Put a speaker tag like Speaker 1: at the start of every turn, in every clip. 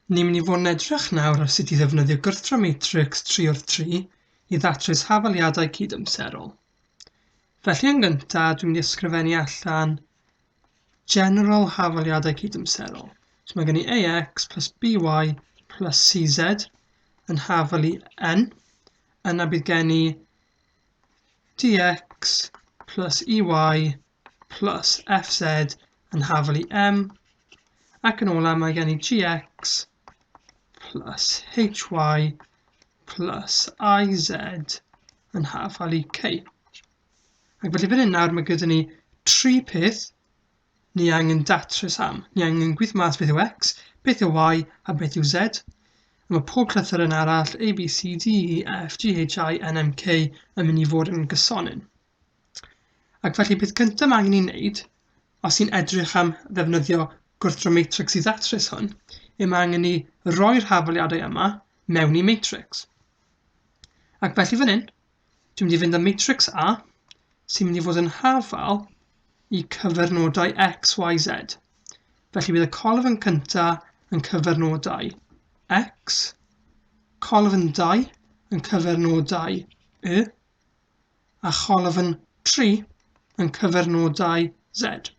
Speaker 1: Ni'n mynd i fod yn edrych nawr ar sut i ddefnyddio gwrthdro matrics 3 wrth 3 i ddatrys hafaliadau cydamserol. Felly yn gyntaf, dwi'n mynd i ysgrifennu allan general hafaliadau cydamserol. So mae gen i ax plus by plus cz yn hafalu n. Yna bydd gen i dx plus ey plus fz yn hafal i m, ac yn ola mae gen i gx plus hy plus iz yn hafal i k. Ac felly fan hyn nawr mae gyda ni tri peth ni angen datrys am. Ni angen gwyth mas beth yw x, beth yw y a beth yw z. A mae pob llythyr yn arall A, B, C, D, E, F, G, H, I, N, M, K yn mynd i fod yn gysonyn. Ac felly peth cyntaf mae angen ei wneud, os i'n edrych am ddefnyddio gwrthdro matrix i ddatrys hwn, y mae angen ni roi'r hafaliadau yma mewn i matrix. Ac felly fan hyn, dwi'n mynd i fynd â matrix A, sy'n mynd i fod yn hafal i cyfernodau x, y, z. Felly bydd y colf yn cyntaf yn cyfernodau x, colf yn 2 yn cyfernodau y, a cholofn 3 yn cyfernodau Z.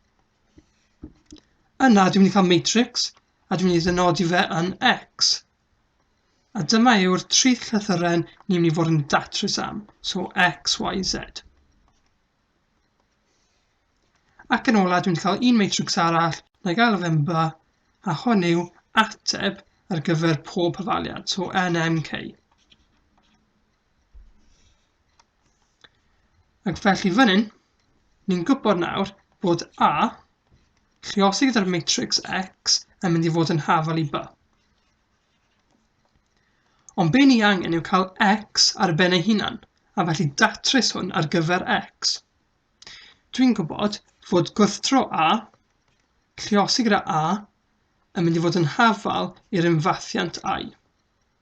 Speaker 1: Yna dwi'n mynd i cael matrix a dwi'n mynd i ddynodi fe yn X. A dyma yw'r tri llythyren ni'n mynd i fod yn datrys am, so X, Y, Z. Ac yn ola, dwi'n cael un matrix arall, na i gael y femba, a hwn yw ateb ar gyfer pob hyfaliad, so NMK. Ac felly fan hyn, ni'n gwybod nawr bod A, lliosi gyda'r matrix X, yn mynd i fod yn hafal i B. Ond be ni angen yw cael X ar ben ei hunan, a felly datrys hwn ar gyfer X. Dwi'n gwybod fod gwrthdro A, lliosi gyda A, yn mynd i fod yn hafal i'r ymfathiant I.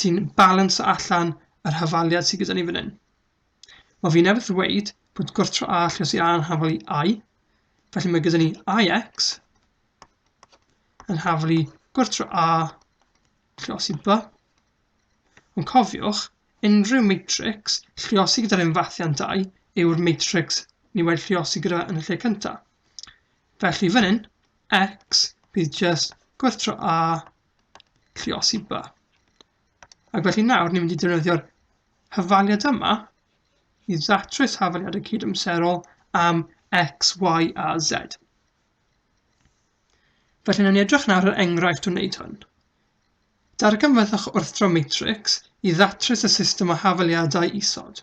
Speaker 1: sy'n balansio allan yr hafaliad sydd gyda ni fan hyn. Wel, fi newydd ddweud bod gwrtro a allus i a yn hafal i i, felly mae gyda ni ix yn hafal i gwrtro a lliosi b. Ond cofiwch, unrhyw matrix lliosi gyda'r unfathiant 2 yw'r matrix ni wedi lliosi gyda yn y lle cyntaf. Felly fan hyn, x bydd just gwrthro a Lluosi by. Ac felly nawr ni'n mynd i defnyddio'r hyfaliad yma i ddatrys hafaliad y cydymserol am x, y a z. Felly na ni edrych nawr yr enghraifft o wneud hwn. Darganfyddwch wrthdro matrix i ddatrys y system o hafaliadau isod.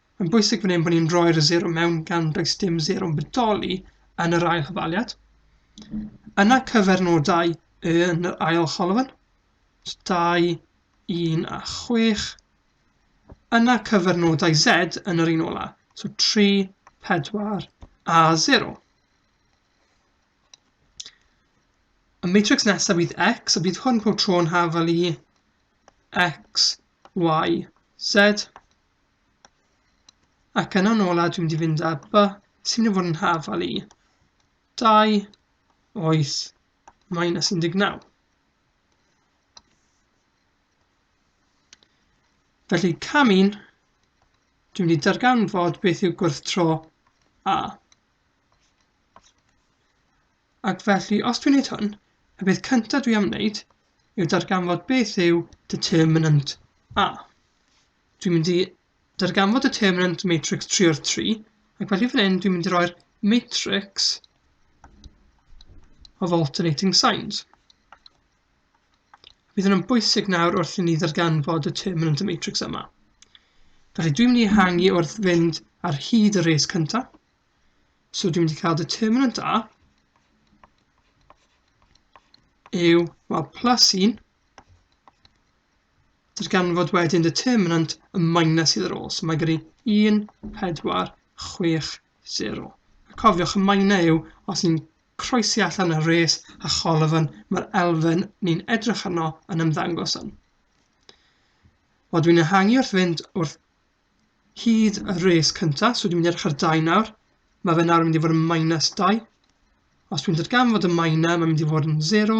Speaker 1: Mae'n bwysig fan hyn bod ni'n rhoi'r zero mewn gan does dim zero'n bodoli yn yr ail hyfaliad. Yna cyfernodau yn yr ail cholofn. 2, 1 a 6. Yna cyfernodau Z yn yr un ola. So 3, 4 a 0. Y matrix nesaf fydd X, a bydd hwn pob tro'n hafel i X, Y, Z. Ac yna nôl a dwi'n mynd i fynd â by sy'n mynd i fod yn hafal i 2 oes minus 19. Felly cam 1, dwi'n mynd i darganfod beth yw gwrthdro A. Ac felly, os dwi'n gwneud hwn, y beth cyntaf dwi am wneud yw darganfod beth yw determinant A. Dwi'n mynd i darganfod determinant matrics 3 o'r 3, ac felly fan hyn dwi'n mynd i roi'r matrix of alternating signs. Bydd yn bwysig nawr wrth i ni ddarganfod y terminant y matrix yma. Felly dwi'n mynd i hangi wrth fynd ar hyd y res cyntaf. So dwi'n mynd i cael determinant A yw, wel, plus 1 darganfod wedyn determinant y minus sydd ar ôl. So mae gyda 1, 4, 6, 0. A cofiwch y minor yw os ni'n croesi allan y res a cholofn mae'r elfen ni'n edrych arno yn ymddangos yn. Wel, dwi'n ehangu wrth fynd wrth hyd y res cyntaf, so dwi'n mynd edrych ar 2 nawr. Mae fe nawr yn mynd i fod yn minus 2. Os dwi'n darganfod y minor, mae'n mynd i fod yn 0,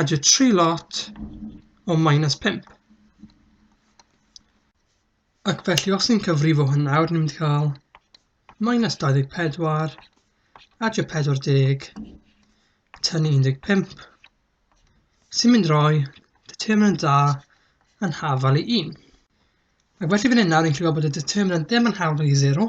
Speaker 1: Adio tri lot o minus 5. Ac felly os ni'n cyfrifo hyn nawr, ni'n mynd i cael minus 24, adio 40, tynnu 15, sy'n mynd roi determinant da yn hafal i 1. Ac felly fan hyn nawr ni'n gallu gweld bod y determinant ddim yn hafal i 0,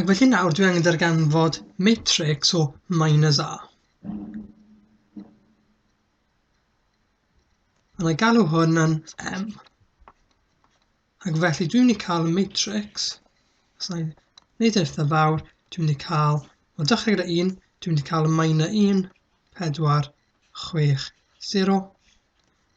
Speaker 1: Ac felly nawr dwi angen darganfod matrix o minus a. A na galw hwn yn m. Ac felly dwi'n mynd i cael matrix, os na i wneud eitha fawr, dwi'n mynd i cael, o dechrau gyda 1, dwi'n mynd i cael minus 1, 4, 6, 0.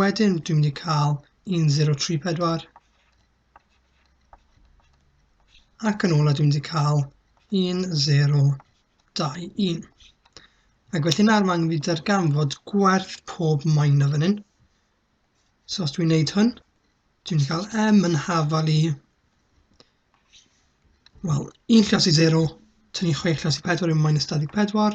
Speaker 1: Wedyn dwi'n mynd i cael 1034 ac yn ola dwi'n mynd i cael 1021. Ac felly nawr mae'n mynd i darganfod gwerth pob maen o fan hyn. So os dwi'n gwneud hwn, dwi'n mynd i cael m yn hafal i wel, un llas i 0, tynnu 6 llas i 4 yw minus 24,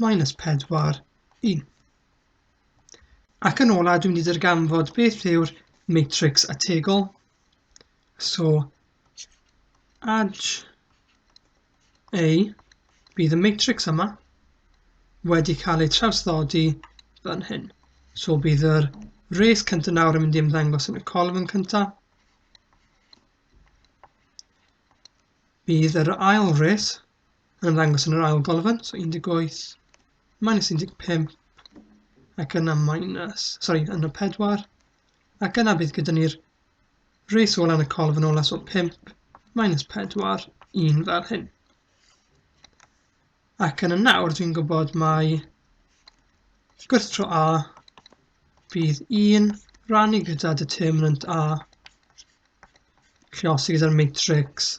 Speaker 1: minus 4, 1. Ac yn ola, dwi'n mynd i ddarganfod beth yw'r matrix ategol. So, add A bydd y matrix yma wedi cael ei trawsddodi fan hyn. So bydd yr res cyntaf nawr yn mynd i ymddangos yn y colofn cyntaf. Bydd yr ail res yn ymddangos yn yr ail golofn, so 18 minus 15, ac yna minus, sorry, yna 4, ac yna bydd gyda ni'r reis ôl yn y colofn ola, so 5 minus 4, 1 fel hyn. Ac yna nawr dwi'n gwybod mae gwrth tro A bydd 1 rannu gyda determinant A, lle os gyda'r matrix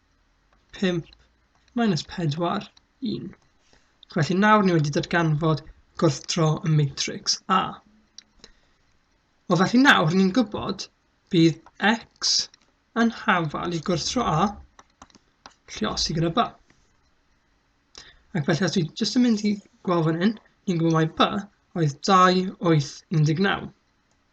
Speaker 1: 5 minus 4, 1. Felly nawr ni wedi datganfod gwrthdro y matrix A. O felly nawr ni'n gwybod bydd x yn hafal i gwrthdro A lle os i gyda B. Ac felly os dwi jyst yn mynd i gweld fan hyn, ni'n gwybod mai B oedd 2, 8, 19.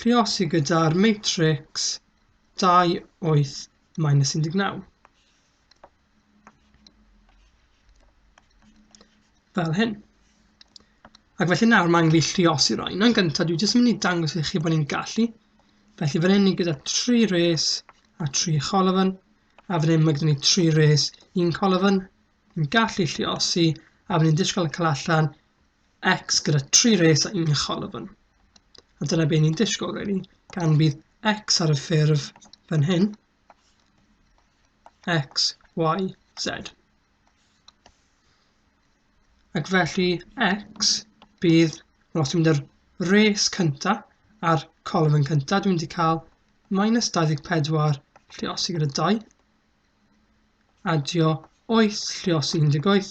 Speaker 1: Lluosi gyda'r matrics 2, 8, minus 19. Fel hyn. Ac felly nawr mae'n angen fi lliosi roi. Yn gyntaf, dwi jyst yn mynd i dangos i chi bod ni'n gallu. Felly fan hyn ni gyda 3 res a 3 cholofyn, a fan hyn mae gyda ni 3 res, 1 cholofyn. Ni'n gallu lliosi, a fan hyn disgwyl y cael allan X gyda tri res a un cholofn. A dyna beth ni'n disgwyl, really. Gan bydd X ar y ffurf fan hyn, X, Y, Z. Ac felly X bydd, wel, os dwi'n mynd ar res cynta a'r colofn cynta, dwi'n mynd i cael minus 24 lliosi gyda 2, adio 8 lliosi 18,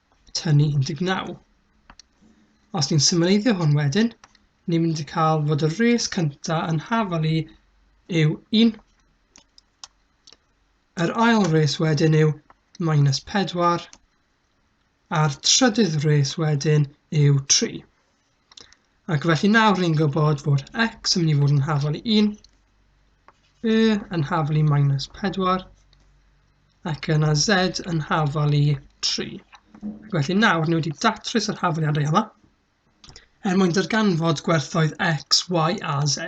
Speaker 1: tynnu 19. Os ni'n symleiddio hwn wedyn, ni'n mynd i cael fod y res cyntaf yn hafal i yw 1. Yr ail res wedyn yw minus 4 a'r trydydd res wedyn yw 3. Ac felly nawr ni'n gwybod fod x yn mynd i fod yn hafol i 1, y yn hafol i minus 4, ac yna z yn hafol i 3. Ac felly nawr ni wedi datrys yr hafaliadau yma er mwyn darganfod gwerthoedd x, y a z.